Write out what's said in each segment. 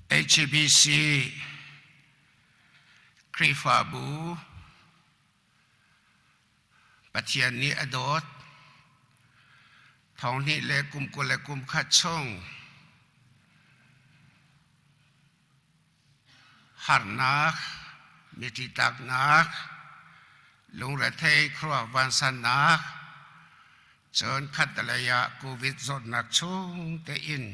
HBC Khrihfabu Pathian nih a dawt thong hnih le kum kul le kum khat chung harnak, miti taknak, lungrethei khuaruah vansannak, cun khattelei ah COVID zawtnak chung tein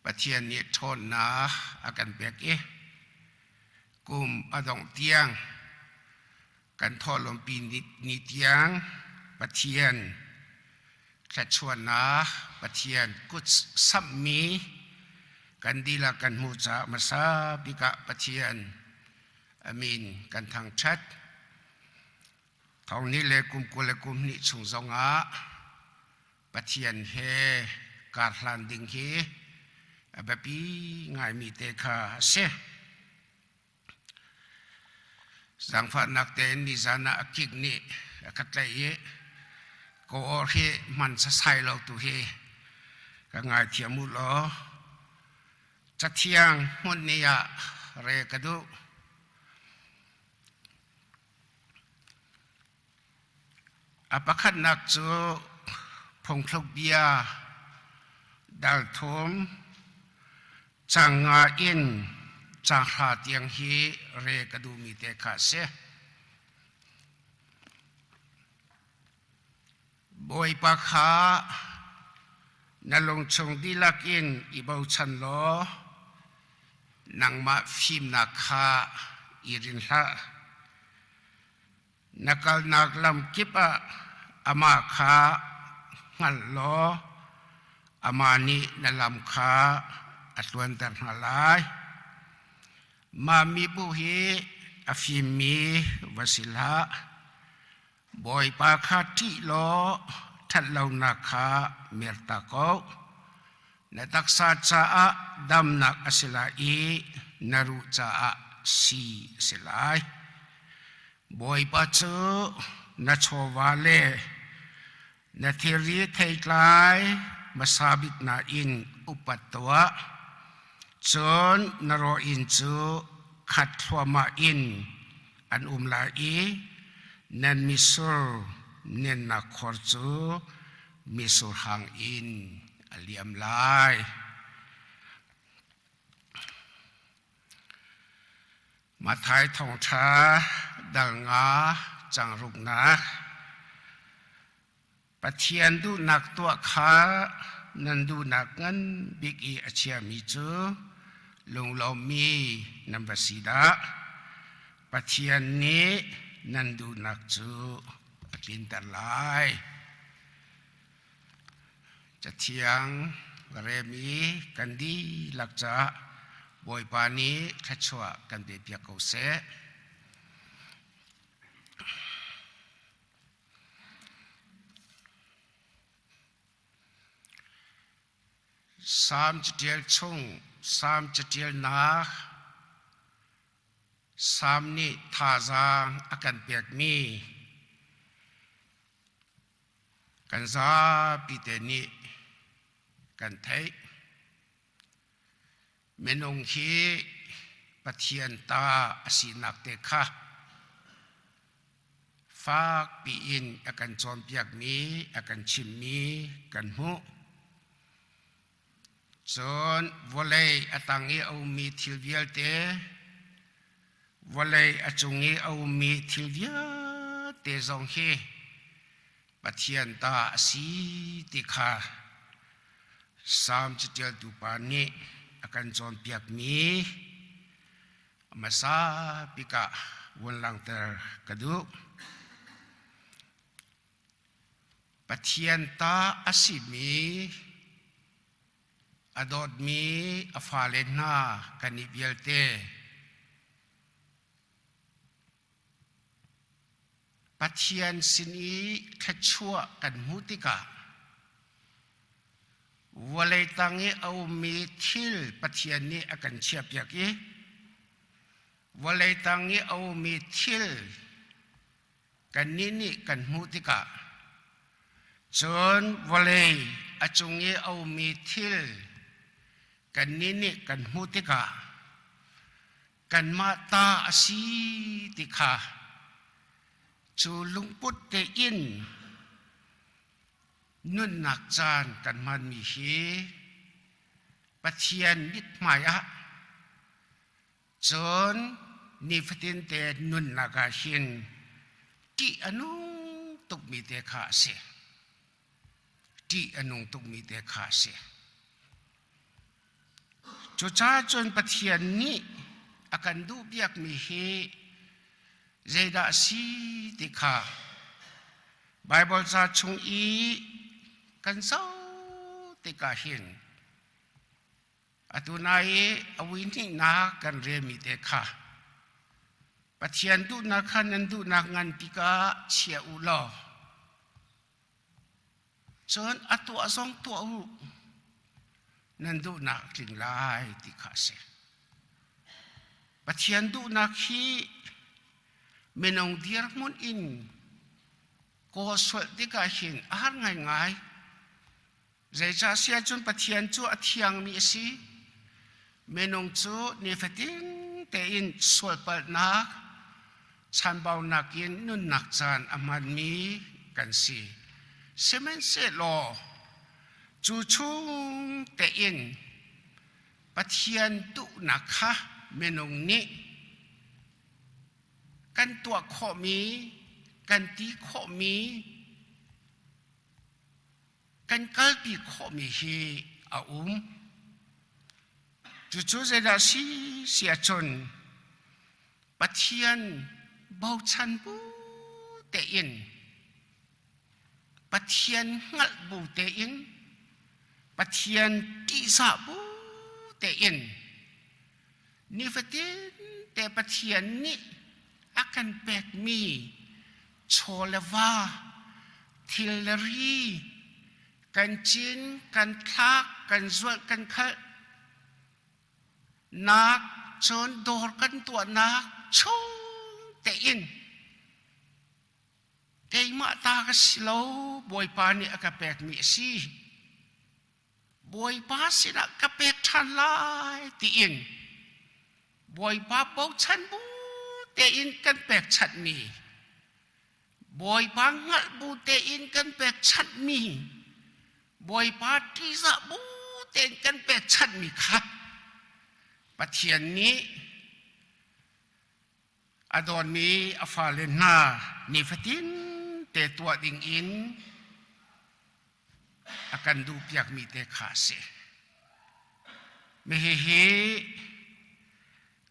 Pathian nih ṭhawnnak a kan pek i kum a dongh tiang Kan thawhlawmpi ni tiang Pathian thluachuahnak Pathian kut samhmi kan dihlak kan hmuh caah hmasa bik ah Pathian amin kan thangṭhat. Thong ni le kum kul le kum hnih chung zongah Pathian he kar hlan ding hi a biapi ngaimi te kha a si. Zangfahnak tein nizan ah a kik nih a ka tlaih i ka aw hi man sasai lo tu hi ka ngaithiam u law cathiang hmun ni ah re ka duh. A pakhatnak cu phungthluk bia, dalthum, canga in canghra tiang hi re ka duhmi te kha a si. Bawipa kha na lungchung dihlak in i bochan law nangmah fimnak kha i rin hlah. Na kalnak lamkip ah amah kha hngalh law amah nih na lam kha a tluanter hna lai. Mah mibu hi a fimmi va si hlah. Bawipa kha ṭih law ṭhat lonak kha mer ta ko. Na taksa caah damnak a si lai i na ruh caah si a si lai. Bawipa cu na chawva le na thilri theitlai hmasa bik na in upat tuah. Cun na rawh inn cu khat thluamah in an um lai i na mitsur nennak khor cu misur hang in a liam lai. Mathai thawngṭha dal nga changruknak Pathian duhnak tuah kha nan duhnak ngan bik i a chiami cu lunglomi nan va si dah Pathian nih nan duhnak cu ka tlinter lai cathiang va rem i kan dihlak caah bawipa nih thluachuah kan pepiak ko seh Psalm catial chung Psalm catial nak Salm nih thazaang a kan pekmi kan zapi te nih kan theih. Minung hi Pathian ta a sinak te kha fak piin a kan cawnpiakmi, a kan chimmi kan hmuh. Cun vawlei a tang i a ummi thil vialte, vawlei a cung i a ummi thil vialte zong hi Pathian ta a si ti kha Salm caṭialtu pa nih a kan cawnpiakmi a hmasa bik ah vun langhter ka duh. Pathian ta a simi, a dawtmi a fale hna kan i vialte, Pathian sin i thluachuah kan hmuh tikah vawlei tang i a ummi thil Pathian nih a kan chiahpiak i vawlei tang i a ummi thil Kannih nih kan hmuh tikah cun vawlei a cung i a ummi thil kannih nih kan hmuh tikah kanmah ta a si ti kha cu lungput tein nunnak caan kan hmanmi hi Pathian mithmai ah cun nifatin te nunnak ah hin ṭih a nung tukmi te kha a si ṭih a nung tukmi te kha a si cucaah cun Pathian nih a kan duh biakmi hi zeidah a si ti kha Baibal ca chung i kan zoh tikah hin Atu hna i a vuihnihnak kan relmi te kha Pathian duhnak kha nan duhnak nganpi ka chia u law cun a tuah zong tuah u nan duhnak tling lai ti kha a si. Pathian duhnak hi minung dirhmun in kaw sual tikah hin a har ngaingai. Zeicah si ahcun Pathian cu a thiangmi a si. Minung cu nifatin tein sualpalhnak, chanbaunak in nunnak caan a hmanmi kan si. Sihmanhsehlaw cu chung tein Pathian duhnak kha minung nih kan tuah khawhmi, kan ti khawhmi, kan kalpi khawhmi hi a um. Cucu zeidah si si ahcun Pathian bochan bu tein Pathian hngalh bu tein Pathian tihsah bu tein Nifatinte Pathian nih a kan pekmi chaw le va, thil le ri, kan cin, kan thlak, kan zulh, kan khalh, nak, cun dawr kan tuahnak chungte in keimah ta ka si lo, Bawipa nih a ka pekmi a si. Bawipa sinah ka pek ṭhan lai tiin Bawipa bochan bu tein kan pekchanhmi Bawipa hngalh bu tein kan pekchanhmi Bawipa ṭihzah bu tein kan pekchanhmi kha Pathian nih a dawtmi a fale hna nifatin te tuah ding in a kan duhpiakmi te kha a si. Mihihi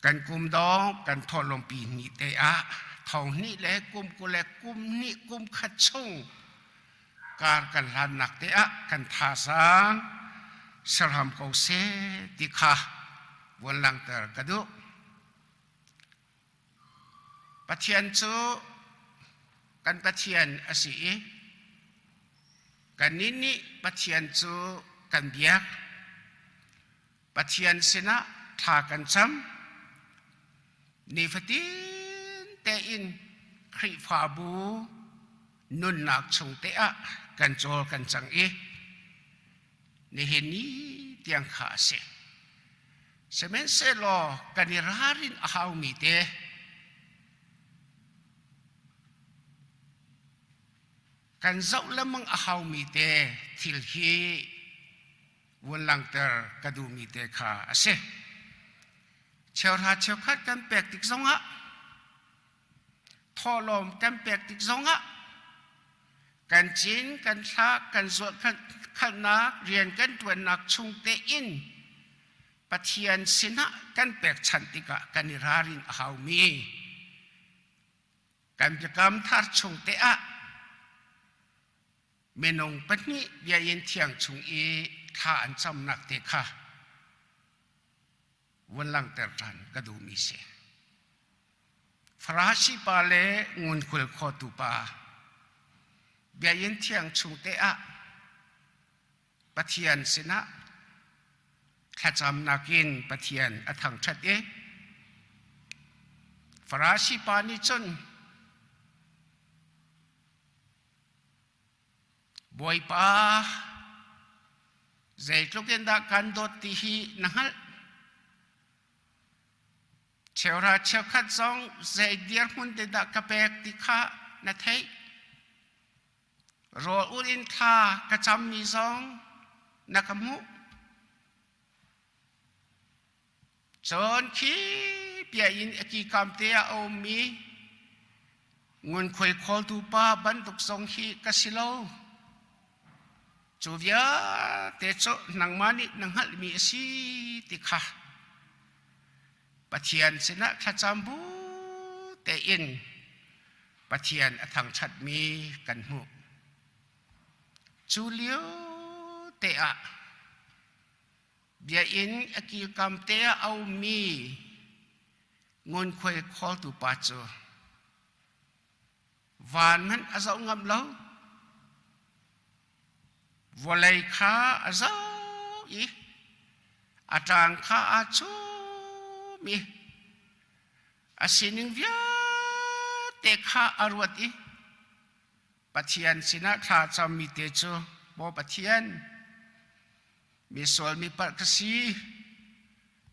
kan kum dong kan thawhlawmpi ni te ah thong hnih le kum kul le kum hnih kum khat chung kar kan hlannak te ah kan tha sang serham ko se ti kha von langhter ka duh. Pathian cu kan Pathian a si i kannih nih Pathian cu kan biak. Pathian sinah thla kan cam. Nifatin tein Khrihfabu nunnak chung te ah kan cawl kan cang i nihin ni tiang kha a si. Sihmanhsehlaw kan i ralrin a haumi te kan zoh lemang a haumi te thil hi vun langter ka duhmi te kha a si. Cheukha cheukhat kan pek tik zongah thawlawm kan pek tik zongah kan cin kan thlah kan zuahkhalhnak rian kan ṭuannak chung tein Pathian sinah kan pekchanh tikah kan i ralrin a haumi kan biakam thar chung te ah minung pahnih biain thiang chung i thla an camnak te kha von langhter ṭhan ka duhmi si. Farasi pa le ngunkhul khotu pa, biakinn thiang chung te ah Pathian sinah thlacam nakin Pathian a thangṭhat i Farasi pa nih cun Bawipa, zeitluk in dah kan dawt ti hi na hngalh. Cheura cheukhat zong zei dirhmun te dah ka pek ti kha na theih. Rawl ul in thla ka cammi zong na ka hmuh. Cun khi bia in a kikam te ah a ummi ngunkhuai khawltu pa bantuk zong hi ka si lo. Cu vialte cu nangmah nih na hngalhmi a si ti kha Pathian sinah thlacam bu tein Pathian a thangṭhatmi kan hmuh. Cu lio te ah Biakinn a kilkam te a aumi ngunkhuai khawltu pa cu van hmanh a zoh ngam lo. Vawlei kha a zoh i a ṭang kha aa chum i a sining vialte kha a ruat i Pathian sinah thla cammi te cu maw Pathian misual mi palh ka si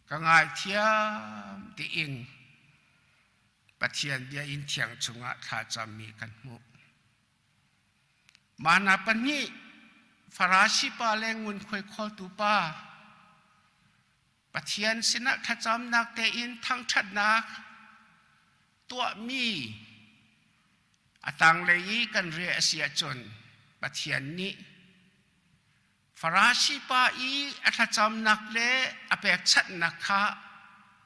ka ngaithiam tiin Pathian bia in thiang chungah thla cammi kan hmuh. Mana pahnih farasi pa le ngunkhuai khawltu pa Pathian sinah thlacamnak tein thangṭhatnak tuahmi a tanglei i kan reh a si ahcun Pathian nih Farasi pa i a thlacamnak le a pekchanhnak kha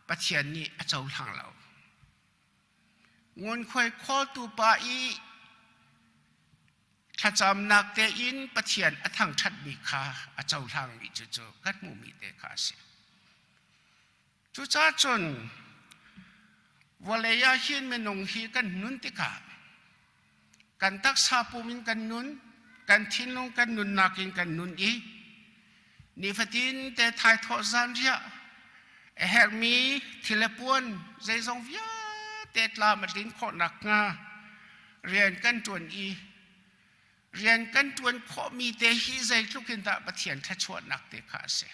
Pathian nih a cohlang lo. Ngunkhuai khawltu pa i thlacamnak tein Pathian a thangṭhatmi kha a cohlangmi cu cu kan hmuhmi te kha a si. Cucaah cun vawlei ah hin minung hi kan nun tikah kan taksa pum in kan nun kan thinlung kan nunnak in kan nun i nifatin te thai thawh zan riah a herhmi thil le puan zeizong vialte tlam a tlin khawh nakhnga rian kan ṭuan i rian kan ṭuan khawhmi te hi zeitluk in dah Pathian thluachuahnak te kha a si.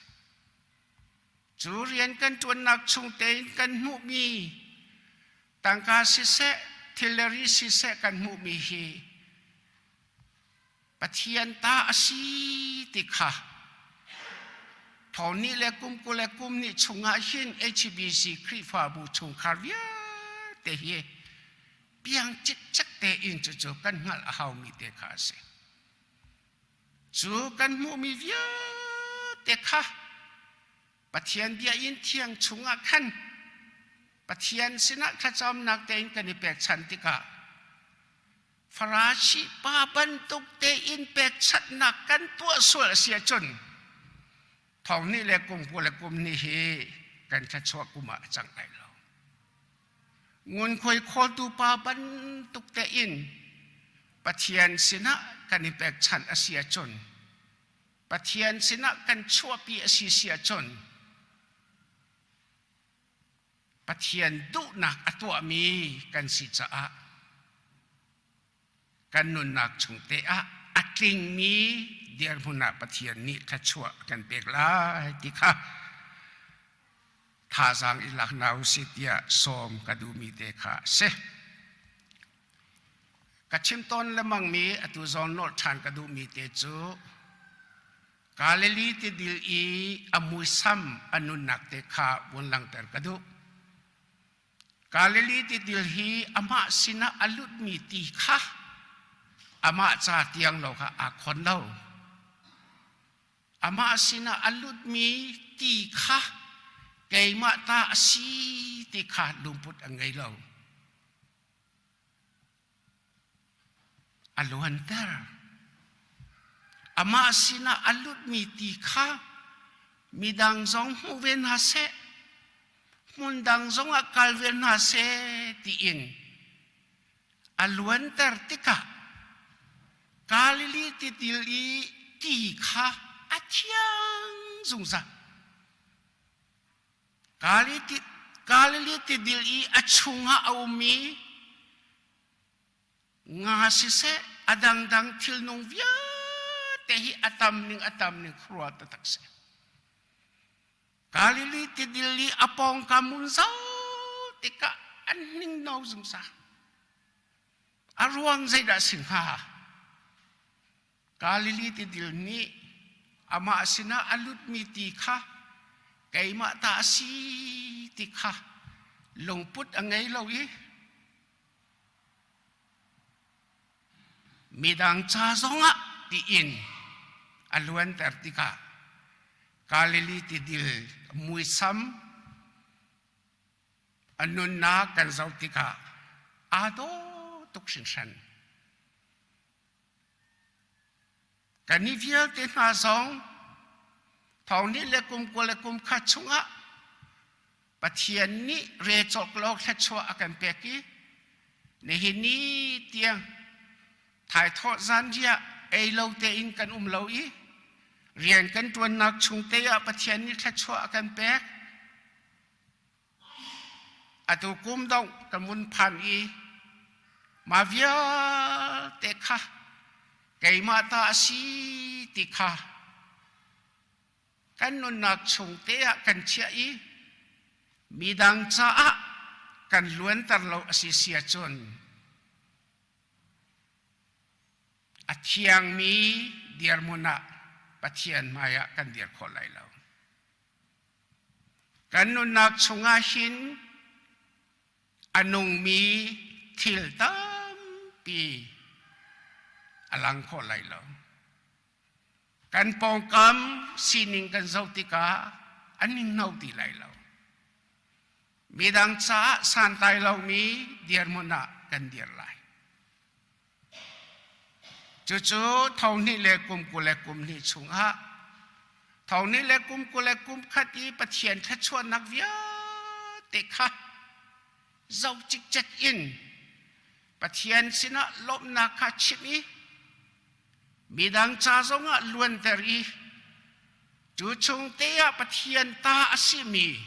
Cu rian kan ṭuannak chung tein kan hmuhmi, tangka siseh, thilleri siseh kan hmuhmi hi Pathian ta a si ti kha Thawn nih le kum kul le kum nih chungah hin HBC Khrihfabu chungkhar vialte hi piang cikcek tein cucu kan hngalh a haumi te kha a si. Cu kan hmuhmi vialte kha Pathian bia in thiang chungah khan Pathian sinah thlacamnak tein kan i pekchanh tikah farashi pa bantuk tein pekchanhnak kan tuah sual a si ahcun thong nih le kungpu le kum nih hi kan thluachuah kum ah a cang lai lo. Ngunkhuai khawltu pa bantuk tein Pathian sinah kan i pekchanh a si ahcun, Pathian sinah kan chuahpi a si si ahcun, Pathian duhnak a tuahmi kan si caah kan nunnak chung te ah a tlingmi dirhmun ah Pathian nih thluachuah kan pek lai ti kha thazaang i lak hna u si tiah sawm ka duhmi te kha a si. Ka chim tawn lemangmi atu zawn nolh ṭhan ka duhmi te cu Galilee ti dil i a muisam a nunnak te kha vun langhter ka duh. Galilee tidil hi amah sinah a lutmi ti kha amah ca tiang lo kha aa khon lo. Amah sinah a lutmi ti kha keimah ta a si ti kha lungput a ngei lo. a luanter. Amah sinah a lutmi ti kha midang zong hmuh ve hna seh, hmundang zongah kal ve hna seh tiin a luanter tikah Galilee titil i ti kha a thiang zungzal. Galilee tidil i a chungah a ummi nga siseh a dangdang thilnung vialte hi a tam ning a tam ning khruwa taktak seh. Galilee tidil i a pawngkam mun zau tikah an ning no zungzal. A ruang zeidah si hnga? Galilee tidil nih amah sinah a lutmi ti kha keimah ta a si ti kha lungput a ngei lo i midang ca zongah tiin a luanter tikah Galilee tidil muisam a nunnak kan zoh tikah aa daw tuk hringhran. Kan i vialte hna zong thawngnih le kum kua le kum khat chungah Pathian nih re cawk lo thluachuah a kan pek i nihin ni tiang thaithawh zanriah ei lo tein kan um lo i rian kan ṭuannak chung te ah Pathian nih thluachuah a kan pek. Atu kum dongh ka mun phan i mah vialte kha keimah ta a si ti kha kan nunnak chung te ah kan chiah i midang caah kan luanter lo a si sia cun a thiangmi dirmun ah Pathian hmai ah kan dir khawh lai lo. Kan nunnak chungah hin a nungmi thil tampi a lang khawh lai lo. Kan pawngkam sining kan zoh tikah an ningno ti lai lo. Midang caah santlai lomi dirhmun ah kan dir lai. Cucu thohnih le kum kul le kum hnih chungah thohnih le kum kul le kum khat i Pathian thluachuahnak vialte kha zoh cikcek in Pathian sinah lawmhnak kha chimh i midang ca zongah luanter i Cu chung te ah Pathian ta a simi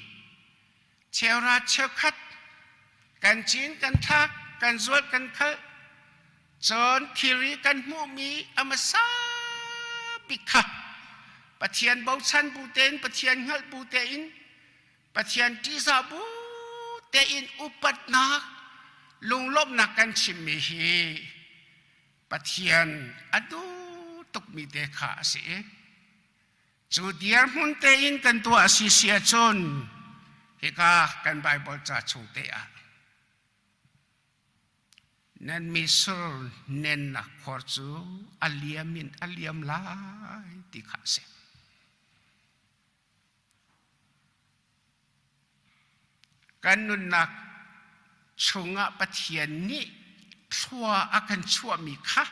cheura cheukhat kan cin kan thlak kan zual kan khalh cun thilri kan hmuhmi a hmasa bik kha Pathian bochan bu tein Pathian hngalh bu tein Pathian ṭihza bu tein upatnak lunglawmhnak kan chimmi hi Pathian a duh tukmi te kha a si i cu dirhmun tein kan tuah a si si ahcun hika kan Baibal ca chung te ah nan misur nennak khor cu a liam in a liam lai ti kha a si. Kan nunnak chungah Pathian nih thlua a kan chuahmi kha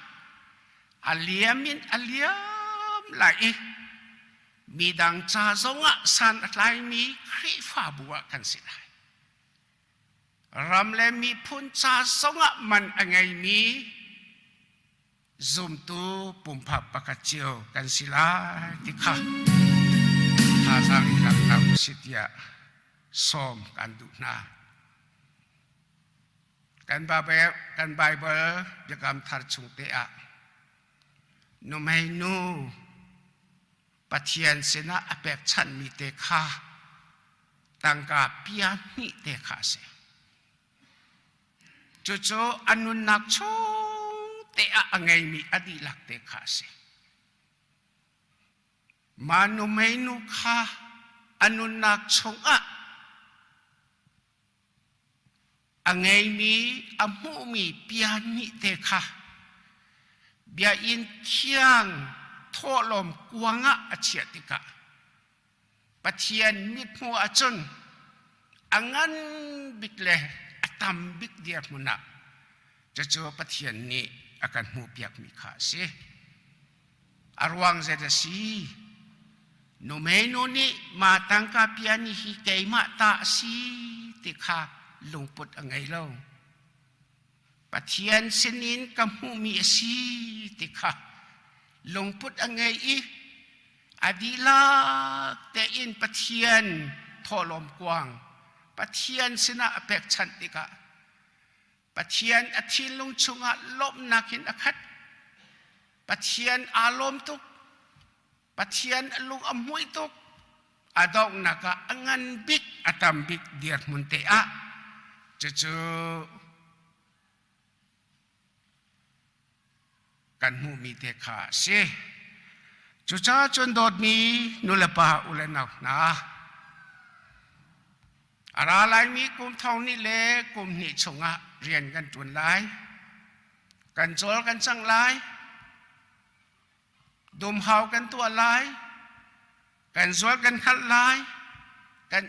a liam in a liam lai i midang ca zongah san a tlaimi Khrihfabu ah kan si lai. Ram le miphun ca zongah man a ngeimi zumtu pumpak pakhat cio kan si lai ti kha thazaang in langhter u si tiah sawm kan duh hna. Kan Baibal biakam thar chung te ah numeinu Pathian sinah a pekchanhmi te kha tangka pia hnih te kha a si. Cucu a nunnak chung te ah a ngeimi a dihlak te kha a si. Manu meinu kha a nunnak chungah a ngeimi a hmuhmi bia nih te kha bia in thiang thawhlawm kuang ah a chiah tikah Pathian mithmuh ahcun a ngan bik le a tam bik dirhmun ah cucu Pathian nih a kan hmuhpiakmi kha a si. A ruang zet a si. Numeinu nih ma tangka piani hi keimah ta a si ti kha lungput a ngei lo. Pathian sinin ka hmuhmi a si ti kha lungput a ngei i a dihlak tein Pathian thawhlawm kuang Pathian sinah a pekchanh tikah Pathian a thinlung chungah lawmhnak in a khat. Pathian aa lawm tuk. Pathian a lung a muih tuk a donghnak ah a ngan bik a tam bik dirhmun te ah cucu kan hmuhmi te kha a si cucaah cun dawtmi nulepa ule nau hna a ra laimi kum thong ni le kum hnih chungah rian kan ṭuan lai kan cawl kan cang lai Dumhau kan tuah lai. Kan zual kan hngalh lai. Kan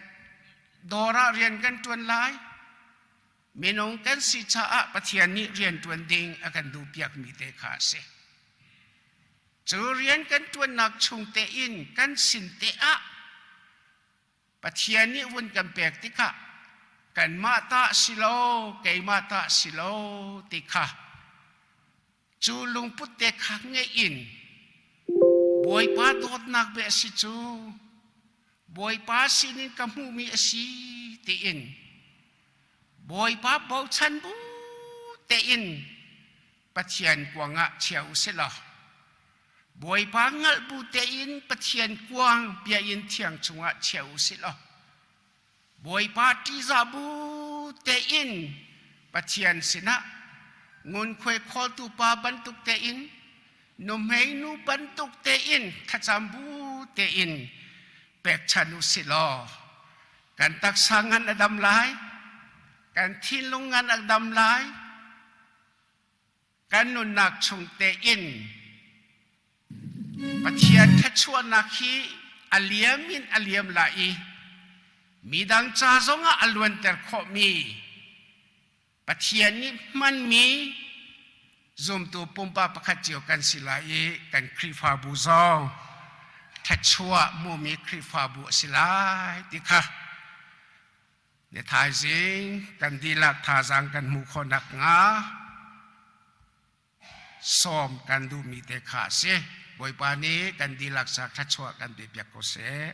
dawr ah rian kan ṭuan lai. Minung kan si caah Pathian nih rian ṭuan ding a kan duhpiakmi te kha a si. Cu rian kan ṭuannak chung tein kan sin te ah Pathian nih vun kan pek tikah kanmah ta si lo, keimah ta si lo ti kha Cu lungput te kha ngeih in Bawipa dawtnak ve a si cu Bawipa sinin ka hmuhmi a si tiin Bawipa bochan bu tein Pathian kuang ah chia u silaw Bawipa hngalh bu tein Pathian kuang biain thiang chungah chia u silaw Bawipa ṭiza bu tein Pathian sinah ngunkhuai khawltu pa bantuk tein nuhmei nu bantuk tein thlacam bu tein pekchan u si law kan taksa ngan a dam lai kan thinlung ngan a dam lai kan nunnak chung tein Pathian thluachuahnak hi a liam in a liam la i midang ca zongah a luanter khawhmi Pathian nih hmanmi zumtu pumpa pakhat cio kan si lai i kan Khrihfabu zong thluachuah hmumi Khrihfabu a si lai ti kha Ne thaizing kan dilah thazaang kan hmuh khawh nakhnga sawm kan duhmi te kha a si. Bawipa nih kan dihlak sa thluachuah kan pe piak ko seh.